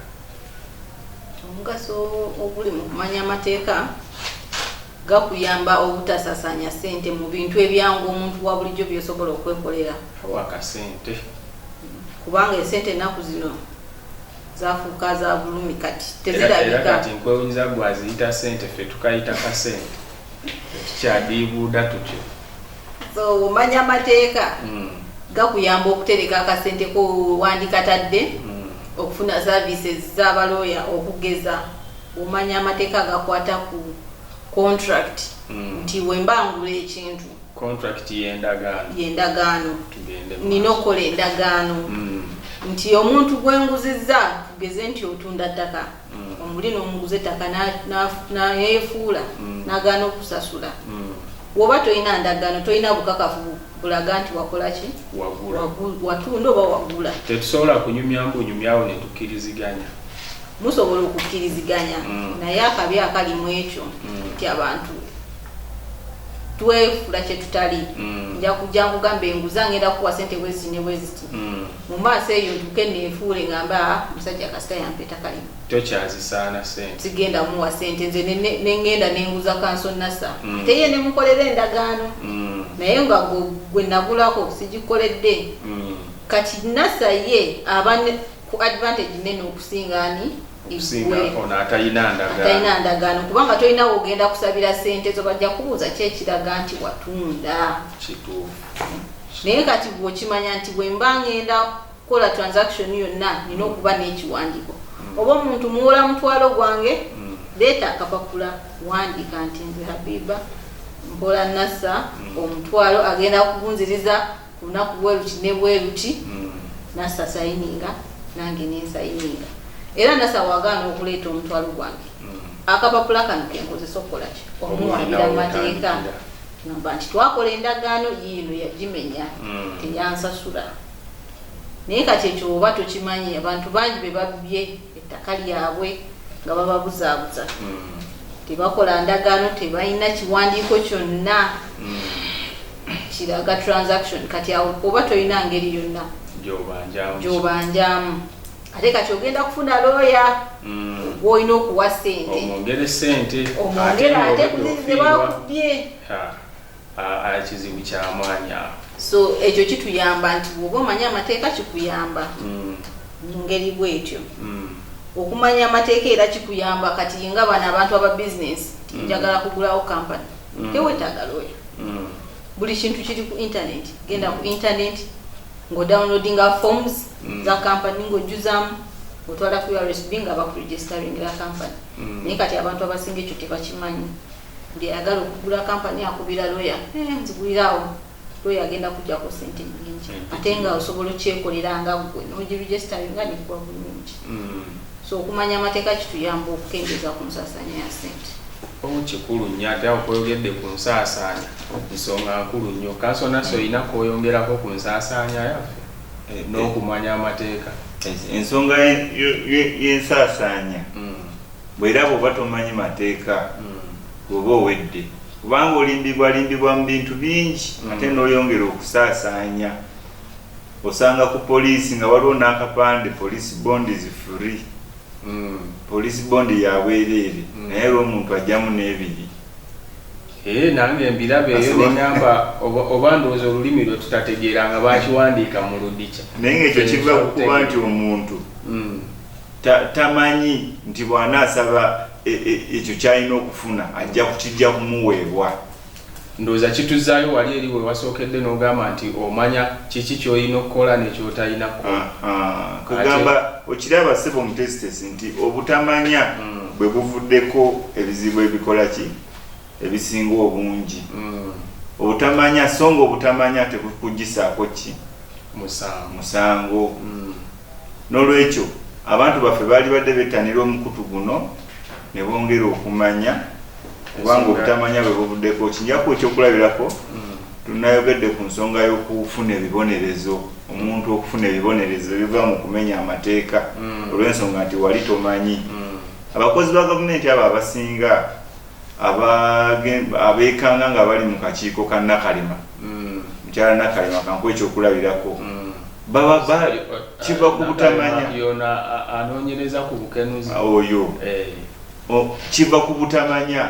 Omugaso oguli mu kumanya amateeka. Gakuyamba obutasasaanya ssente mu bintu ebyangu omuntu wa bulijjo by'osobola okwekolera. Kawa akasente. Kubanga esente ennaku zino zafuuka za bulumi kati tezirabika. Era kati nkwewunyiza gwe aziyita ssente ffe tukayita kasente. Tukyadiibuuda tutyo. So omanya amateeka hmm. gakuyamba okutereka akasente ko wandikatadde hmm. okufuna services z'abalooya okugeza Omanya amateeka agakwata ku contract mm. nti mm. wemba ngula ekintu contract yendagaano yendagaano nina okukola endagaano mm. nti omuntu gwenguzizza tugeze nti otunda ttaka mm. omuli n'omuguza ettaka nayefuula na, na, mm. nagaana okusasula mm. woba tolina ndagaano tolina bukakafu bulaga nti wakola ki watunda oba wagula tetusobola kunyumya mbunyumyawo netukiriziganya musobola okukkiriziganya mm. naye akabi akali mu ekyo mm. nti abantu twefula kyetutali mm. nja kujja nkugamba enguzi angenda kuwa sente bweziti ne bweziti mu maaso eyo ntuke nenfuule ngamba ah, musajja kasita yampeta kalimu tokyazisaana sente sigenda muwa sente nze nengenda nenguza kanso nasa ate ye nemukolera endagaano naye nga gwe nagulako sigikoledde kati nasa ye abane ku advantage nene okusinga ani okusinga ono atalina ndagaano ndagaano kubanga tolina wogenda kusabira sente zo bajja kubuuza ki ekiraga nti watunda kituufu naye kati gwe okimanya nti bwe mba ngenda kukola transaction yonna nina okuba n'ekiwandiiko mm. oba omuntu muwola mutwalo gwange mm. leeta akapapula wandiika nti nze habiba mpola nasa mm. omutwalo agenda kugunziriza olunaku bweruti ne bweruti mm. nasa sayininga nange nensayininga era nasa wagaana okuleeta omutwalo gwange mm. akapapula kano kenkozesa okukolaki omuwabira amateeka namba nti twakola endagaano yiino yagimenya mm. teyansasula naye kati ekyo oba tokimanyi abantu bangi bebabye ettaka lyabwe nga bababuzaabuza mm. tebakola ndagaano tebalina kiwandiiko kyonna mm. kiraga transaction kati awo oba tolina ngeri yonna gyobanjamu ate kati ogenda kufuna looya mm. gwolina okuwa sente omwongere ate kuzizibakubye Aa kizibu kyamaanyi awo. So ekyo kituyamba nti bwoba omanyi amateeka kikuyamba mm. mu ngeri bwetyo mm. okumanya amateeka era kikuyamba kati nga bano abantu aba bizinesi mm. njagala kugulawo kampani mm. tewetaaga looya mm. buli kintu kiri ku intaneti genda ku intaneti ng'odownloadinga forms mm. za kampani ng'ojjuzamu otwala ku usb nga bakuregistaringira kampani mm. naye kati abantu abasinga ekyo tebakimanyi Buli ayagala okugula company akubira lawyer eeh nzigulira awo lawyer agenda kujjako sente nyingi ate nga osobola okyekolera nga gwe noji registeringa nekuba bulungi mm. so okumanya amateeka kituyamba okukendeza ku nsasanya ya sente omu kikulu nnyo ate awo koyogedde ku nsaasaanya nsonga nkulu nnyo kanso nasi olina koyongerako ku nsaasaanya yaffe eh, eh. n'okumanya amateeka ensonga y'ensaasaanya mm. Bwera bwoba tomanyi mateeka bwoba owedde kubanga olimbibwa limbibwa mu bintu bingi mm. ate noyongera okusaasaanya osanga ku poliisi nga waliwo n'akapande police bond is free mm. police bond yabwereere mm. naye era omuntu ajjamu n'ebiri eh, nange mbirabeeyo nenyamba oba ndowooza olulimi lwe tutategeera nga bakiwandiika mu ludikya naye ngaekyo kiva kukuba nti omuntu tamanyi nti bw'anaasaba e, e, ekyo ky'alina okufuna ajja kukijja kumuweebwa ndowooza kituzaayo wali eri we wasookedde n'ogamba nti omanya kiki ky'olina okukola nekyotalina kugamba okiraba sebo omutesitesi nti obutamanya mm. bwe buvuddeko ebizibu ebikola ki ebisinga obungi mm. obutamanya so nga obutamanya tebukugyisaako ki musango mm. N'olwekyo, abantu baffe baalibadde bettanira omukutu guno ne bongera okumanya, kubanga obutamanya bwe buvuddeko. Okinjako ekyokulabirako, tunnayogedde ku nsonga y'okufuna ebibonerezo, omuntu okufuna ebibonerezo ebiva mu kumenya amateeka olw'ensonga nti wali tomanyi. Abakozi ba gavumenti abo abasinga. Abeekanga nga bali mu kakiiko ka Nakalema, mukyala Nakalema kankuwe ekyokulabirako, baba kiva ku butamanya. Y'ono anoonyereza ku bukenuzi. Oyo kiva ku butamanya,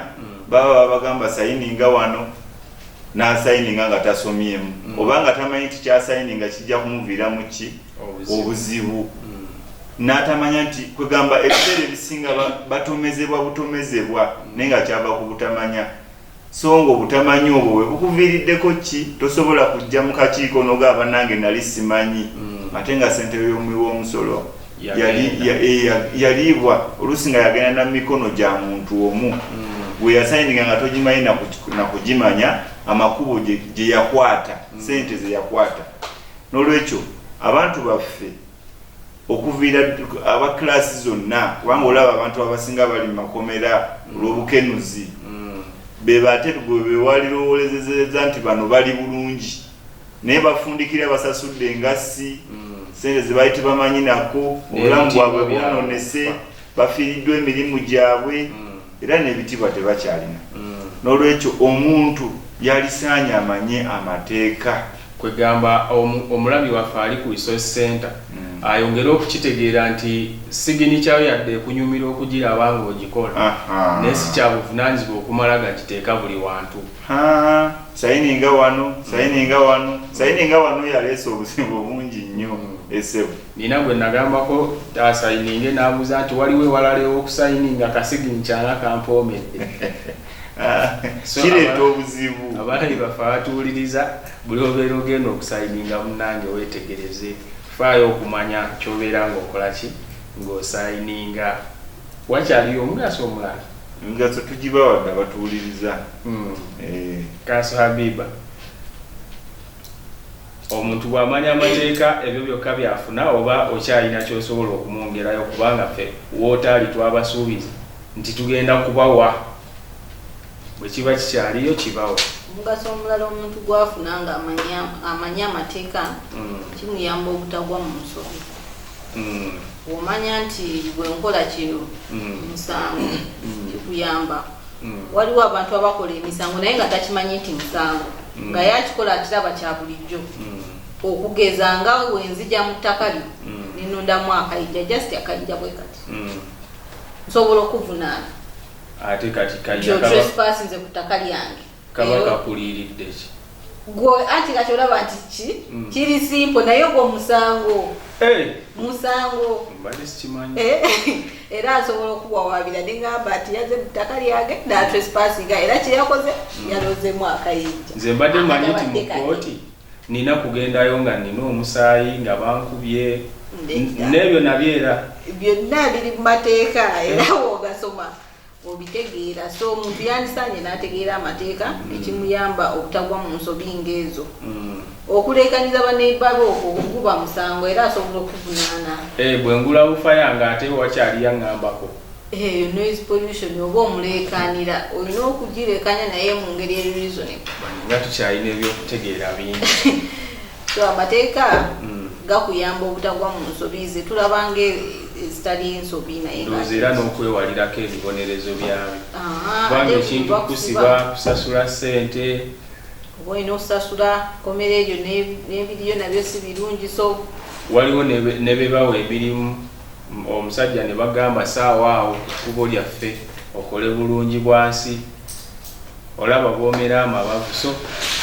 baba babagamba sayininga wano n'asayininga nga tasomyemu oba nga tamanyi nti ky'asayininga kijja kumuviiramu ki? obuzibu mm. n'atamanya nti kwegamba ebiseera ebisinga batomezebwa butomezebwa naye nga kyava ku butamanya so nga obutamanya obwo bwe bukuviiriddeko ki tosobola kujja mu kakiiko noga abanange nali simanyi mm. ate nga sentebe y'omuwi w'omusolo yaliibwa eh, oluusi nga yagenda na mikono gya muntu omu mm. gwe yasayininga nga togimanyi nakugimanya amakubo gye yakwata mm. sente ze yakwata N'olwekyo abantu baffe okuviira aba kiraasi zonna, kubanga olaba abantu abasinga bali mu makomera olw'obukenuzi, mm. be bate gwe be walirowoolezezeza nti bano bali bulungi, naye bafundikira basasudde engassi, mm. sente ze bali tebamanyi nako, obulamu bwabwe bwononese. bafiiriddwa emirimu gyabwe era n'ebitiibwa tebakyalina n'olwekyo omuntu yalisaanye amanye amateeka. Kwegamba omulabi waffe ali ku Resource Centre ayongere okukitegeera nti siginicha yo yadde ekunyumira okugiraba ng'ogikola naye si kya buvunaanyizibwa okumala gagiteeka buli wantu. Sayininga wano, sayininga wano, sayininga wano yaleese obuzibu bungi nnyo e Ssebo. Nina gwe nagambako asayininge n'ambuza nti waliwo ewalala ew'okusayininga kasignicha nga kampoomedde. So Kireeta aba- obuzibu. Abaali bafe abatuwuliriza buli obeera ogenda okusayininga munnange weetegereze. Faayo okumanya ky'obeera ng'okola ki ng'osayininga. Wakyaliyo omugaso omulala? Emigaso tugibawadde abatuwuliriza. Hmm. Eh, Kanso Habiba. Omuntu bwamanya amateeka ebyo byokka byafuna oba okyalina kyosobola okumwongerayo kubanga ffe wootaali twabasuubiza nti tugenda kubawa bwe kiba kikyaliyo kibawe. Omugaso omulala omuntu gwafuna nga amanyi amateeka kimuyamba obutagwa mu nsobi. mm. omanya nti bwenkola kino mm. musango mm. kikuyamba mm. waliwo abantu abakola emisango naye nga takimanyi nti musango mm. nga yakikola akiraba kya bulijjo mm. okugeza nga wenzija mu ttaka lyo mm. nenondamu akayija just akayija bwe kati mm. nsobola okuvunaana ate kati kayija kaba... nze ku ttaka lyange kaba kakuliiridde ki gwe anti kati olaba nti ki mm. kiri simpo naye ogwo musango musango eh, era asobola okuwawabira nengamba nti yaze mutaka lyange natrespasinga era kyeyakoze mm. yalozemu akayinja nze mbadde manyi nti mukooti nina kugendayo nga nina omusaayi nga bankubye nebyo nabyo era byonna biri mu mateeka era eh. wogasoma obitegeera so omuntu yandisaanye n'ategeera amateeka ekimuyamba obutagwa mu nsobi ng'ezo mm. okuleekanyiza baneiba be okwo guba musango era asobola okuvunaana eh, bwe ngula bufa yange ate wakyali yaŋambako eyo eh, noise pollution oba omuleekaanira olina okugireekanya naye mu ngeri erizone nga tukyalina ebyokutegeera bingi so amateeka mm. gakuyamba obutagwa mu nsobi ze tulaba nga ezitali nsobi nayendozi era n'okwewalirako ebibonerezo byabyo kubanga ekintu kusiba kusasula sente oba olina okusasula komera eryo n'ebiriyo nabyo si birungi so waliwo ne bebawa emirimu omusajja ne bagamba saawa awo ekkubo lyaffe okole bulungi bwansi olaba bwomera amabavu so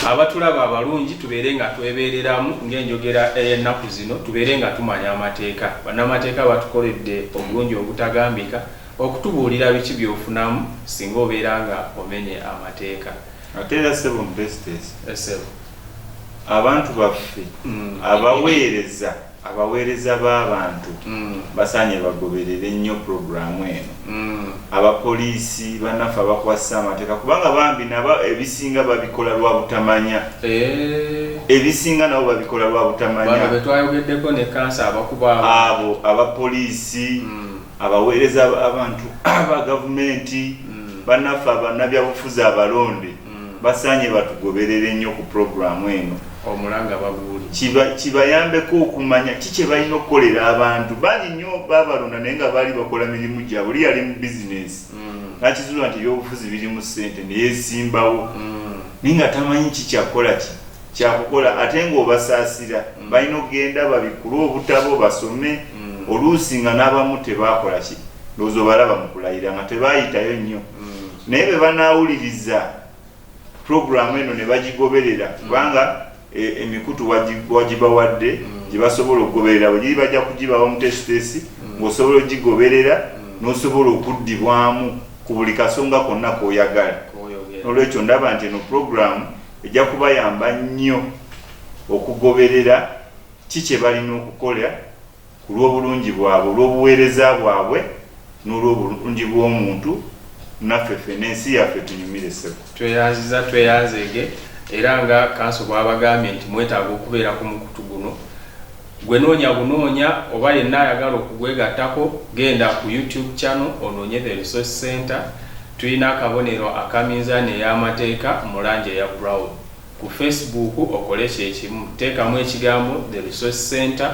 abatulaba abalungi tubeere nga twebeereramu ng'enjogera ey'ennaku zino tubeere nga tumanya amateeka bannamateeka batukoledde obulungi obutagambika okutubuulira biki byofunamu singa obeera nga omenye amateeka ate era sebo mubestes eh, abantu baffe mm. abaweereza mm. Abaweereza b'abantu basaanye bagoberere nnyo pulogulaamu eno. Abapoliisi bannaffe abakwasisa amateeka kubanga bambi nabo ebisinga babikola lwa butamanya. Ebisinga nabo babikola lwa butamanya. Bano be twayogeddeko ne kkansa abakuba abantu. Abo abapoliisi, abaweereza b'abantu aba gavumenti, bannaffe abannabyabufuzi abalonde. mm. basaanye batugoberere nnyo ku pulogulaamu eno omulanga baguuli kibayambeko okumanya ki kye balina okukolera abantu bangi nnyo babalonda naye nga baali bakola mirimu gyabwe oli yali mu bizinesi mm. nakizuula nti ebyobufuzi birimu ssente neyesimbawo mm. naye nga tamanyi ki kyakukola ki kyakukola ate ngaobasaasira mm. balina okugenda babikule obutabo basome oluusi nga n'abamu tebakola ki ndowooza obalaba mu kulayira nga tebayitayo nnyo naye bwe banaawuliriza pulogulaamu eno ne bagigoberera mm. kubanga e, emikutu wagibawadde mm. gye basobola okugoberera bwegiri bajja kugibawa omuteesiteesi mm. ng'osobola ogigoberera n'osobola okuddibwamu ku buli kasonga konna k'oyagala n'olwekyo ndaba nti eno pulogulaamu ejja kubayamba nnyo okugoberera ki kye balina okukola ku lw'obulungi bwabwe, olw'obuweereza bwabwe, n'olw'obulungi bw'omuntu, naffe ffena ensi yaffe etunyumire ssebo. Tweyanziza tweyanzeege era nga kanso bwabagambye nti mwetaaga okubeera ku mukutu guno gwe noonya bunoonya oba yenna ayagala okugwegattako genda ku YouTube channel onoonye The Resource Centre tulina akabonero aka minzaani ey'amateeka mu langi eya brown. Ku Face Book okole kyekimu. Teekamu ekigambo The Resource Centre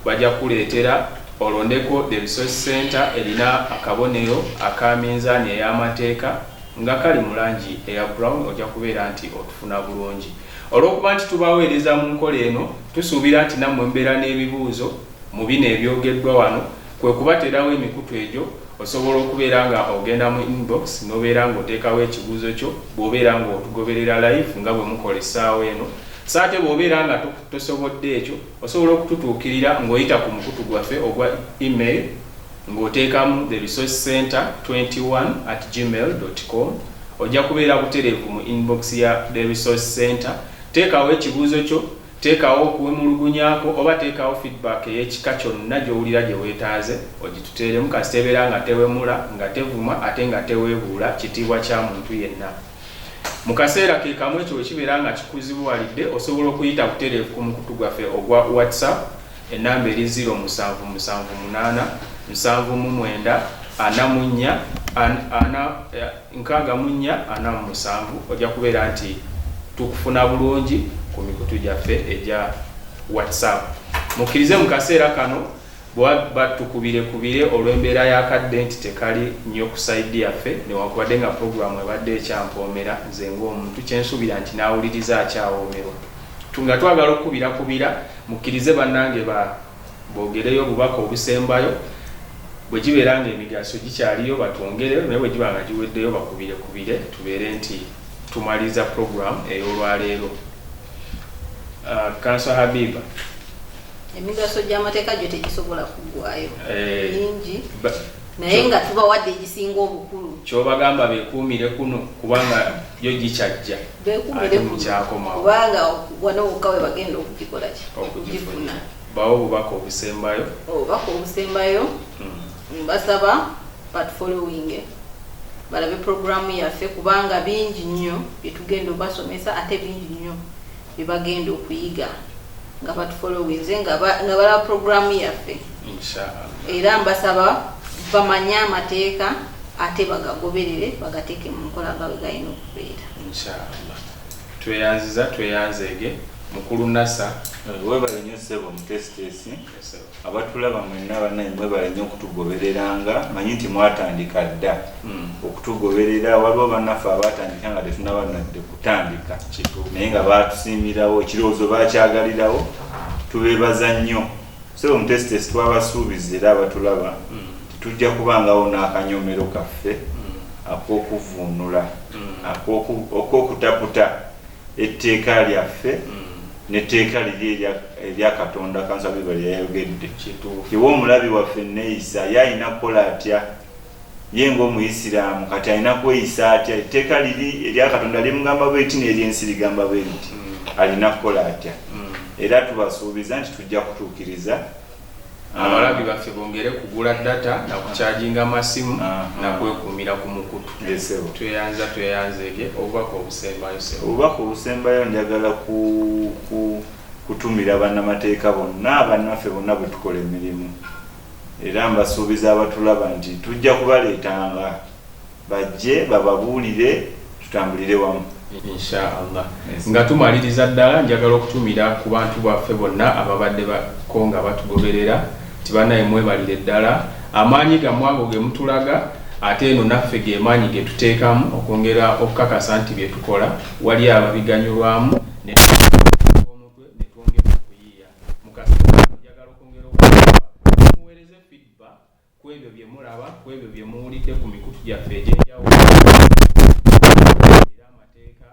bajja kukuleetera olondeko The Resource Centre erina akabonero aka minzaani ey'amateeka nga kali mu langi eya brown ojja kubeera nti otufuna bulungi. Olw'okuba nti tubaweereza mu nkola eno, tusuubira nti nammwe mubeera n'ebibuuzo mu bino ebyogeddwa wano. Kwe kubateerawo emikutu egyo, osobola okubeera nga ogenda mu inbox nobeera nga oteekawo ekibuuzo kyo bwobeera nga otugoberera live nga bwe mukola essaawa eno, so ate bwobeera nga tosobodde ekyo, osobola okututuukirira nga oyita ku mukutu gwaffe ogwa email nga oteekamu the resource center 21 at gmail dot com ojja kubeera butereevu mu inbox ya the resource center, teekawo ekibuuzo kyo. Teekawo okuwemulugunya kwo oba teekawo feedback ey'ekika kyonna gy'owulira gye weetaaze ogituteeremu kasita ebeera nga tewemula, nga tevuma ate nga teweebuula kitiibwa kya muntu yenna. Mu kaseera ke kamu ekyo bwe kibeera nga kikuzibuwalidde, osobola okuyita butereevu ku mukutu gwaffe ogwa WhatsApp, ennamba eri ziro musanvu musanvu munaana nsanvu mu mwenda ana mu nnya ana. nkaaga mu nnya, ana mu musanvu, ojja kubeera nti tukufuna bulungi ku mikutu gyaffe egya WhatsApp. Mukkirize mu kaseera kano bwebaba tukubirekubire olw'embeera y'akadde nti tekali nnyo ku sayidi yaffe newankubadde nga pulogulaamu ebadde ekyampoomera nze ng'omuntu kye nsuubira nti n'awuliriza akyawoomerwa. Nga twagala okukubirakubira, mukkirize bannange ba. Boogereyo obubaka obusembayo. Bwe gibeera ng'emigaso gikyaliyo batwongereyo naye bwe giba nga giweddeyo bakubirekubire tubeere nti tumaliriza pulogulaamu ey'olwaleero. Kkanso Habiba. Emigaso gy'amateeka gyo tegisobola kuggwayo eh, mingi naye nga tubawadde egisinga obukulu. Ky'obagamba beekuumire kuno kubanga yo gikyajja. ate mukyakomawo kubanga wano wokka we bagenda okugikola ki okugifuna bawo obubaka obusembayo obubaka obusembayo hmm. mbasaba but following balabe programu yaffe kubanga bingi nnyo byetugenda obasomesa ate bingi nnyo byebagenda okuyiga nga batufolowinze nga balaba programu yaffe era mbasaba bamanye amateeka ate bagagoberere bagateeke mu nkola nga bwe galina okubeera inshallah tweyanziza tweyanzeege mukulu nasa eh, webale nyo sebo mutesitesi abatulaba mwenna banaye mwebale nyo okutugobereranga manyi nti mwatandika dda hmm. okutugoberera waliwo banaffe abatandika nga tetunaba nadde kutandika naye nga batusiimirawo ekirowoozo bakyagalirawo tubebaza nnyo sebo mutesitesi twabasuubiza era abatulaba hmm. Tujja kubangawo n'akanyoomero kaffe ak'okuvvuunula, ak'okutaputa etteeka lyaffe n'etteeka liri erya Katonda, Kanzabirwa lye yayogedde. Iwe omulabi waffe enneeyisa ye alina kukola atya? Ye ng'Omuyisiraamu kati alina kweyisa atya? Etteeka liri erya Katonda limugamba bwe liti n'ery'ensi ligamba bwe liti. Alina kukola atya? Era tubasuubiza nti tujja kutuukiriza. Abalabi baffe bongere kugula data na kucharginga masimu na kwekuumira ku mukutu. Tweyanza tweyanza ege obubaka obusembayo ssebo. Obubaka obusembayo njagala ku ku kutumira bannamateeka bonna bannaffe bonna bwe tukola emirimu era mbasuubiza abatulaba nti tujja kubaleetanga Bajje bababuulire tutambulire wamu. Insha Allah. Nga tumaliriza ddala njagala okutumira ku bantu baffe bonna ababadde ko nga batugoberera nti banaye mwebalire ddala amaanyi gammwe ago ge mutulaga ate eno naffe ge maanyi ge tuteekamu okwongera okukakasa nti bye tukola waliyo ababiganyulwamu ne ku ebyo bye mulaba ku ebyo bye muwulidde ku mikutu gyaffe egy'enjawulo era amateeka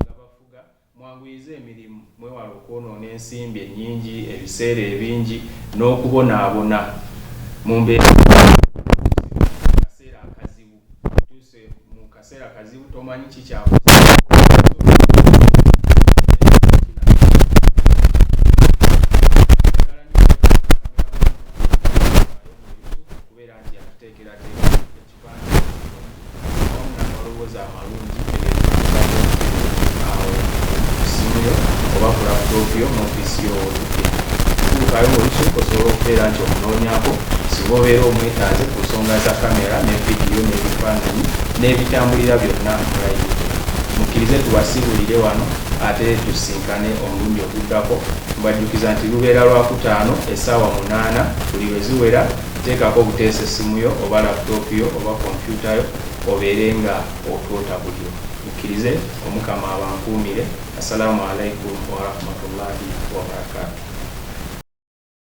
gabafuga mwanguyize emirimu mwewala okwonoona ensimbi ennyingi ebiseera ebingi n'okubonaabona mu mbeera akaseera akazibu tuuse mu kaseera kazibu tomanyi kikyaku kubeera nti yakuteekerateeka ekipande awamu n'amaloboozi amalungi n'ebitambulira byonna mulayi mukkirize tubasiibulire wano ate tusinkane omulundi oguddako mbajjukiza nti lubeera lwakutaano essaawa munaana buli lwe ziwera teekako obuteesa essimu yo oba laputopu yo oba kompyuta yo obeere nga otoota bulyo mukkirize omukama abankuumire Assalamu alaikum warahmatullahi wabarakatuh.